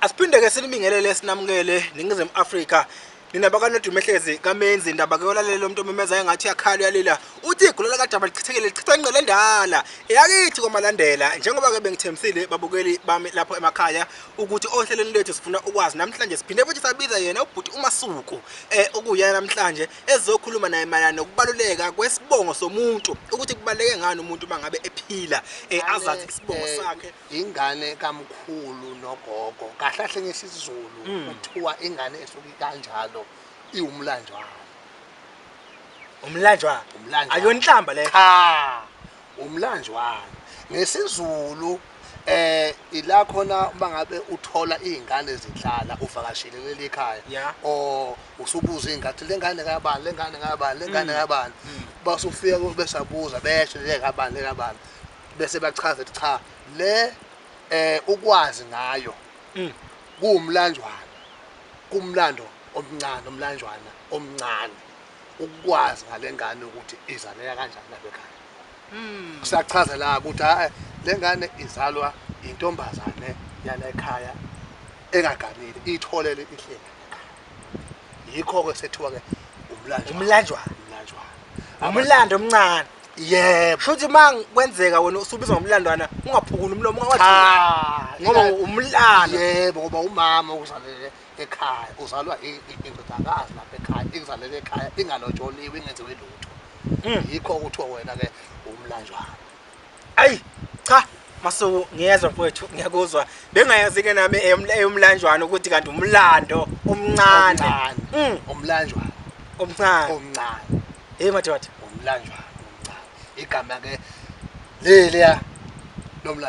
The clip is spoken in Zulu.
Asiphinde ke sinibingelele sinamukele ningizimu Africa nina bakanodume hlezi kamenzi indaba ke yolalelo umuntu omemeza engathi yakhala uyalila uthi igula laka daba lichithekile lichitha ingqele endala eyakithi komalandela njengoba ke bengithembisile babukeli bami lapho emakhaya ukuthi ohlelweni lethu sifuna ukwazi namhlanje siphinde futhi sabiza yena ubhuti umasuku eh okuyena namhlanje ezokhuluma naye mayana nokubaluleka kwesibongo somuntu ukuthi kubaleke ngani umuntu mangabe ephila eh azazi isibongo eh, sakhe Ingane kamkhulu nogogo kahle kahle ngesizulu mm. kuthiwa ingane esuke kanjalo iwumlanjwana umlanjwana umlanjwana ayonhlamba le cha umlanjwana ngesizulu eh ila khona uma ngabe uthola izingane zihlala uvakashile leli khaya o usubuza ingathi lengane kabani lengane kabani lengane mm. kabani mm. basufika besabuza besho lengane kabani lengane kabani bese bachaza ukuthi cha le eh ukwazi ngayo mm. kuwumlanjwana kumlando omncane omlanjwana omncane ukwazi ngalengane ukuthi izaleka kanjani nabekhaya mm. kusachaza la ukuthi hayi ah, lengane izalwa intombazane yana ekhaya engaganile itholele ihlelo yikho ke sethiwa ke umlanjwa umlanjwa umlanjwa umlando omncane yebo shuthi uma kwenzeka wena usubiza ngomlandwana ungaphukula umlomo ungawathi cha ngoba umlando yebo ngoba umama uzalele ekhaya uzalwa indodakazi lapha ekhaya ingizalele ekhaya ingalotsholiwe ingenziwe lutho yikho kuthiwa wena ke umlanjwana ayi cha masuku ngiyezwa mfowethu ngiyakuzwa bengayazi ke nami eyomlanjwana ukuthi kanti umlando omncane mm. umlanjwana omncane omncane hey madoda umlanjwana omncane igama ke leliya lomlando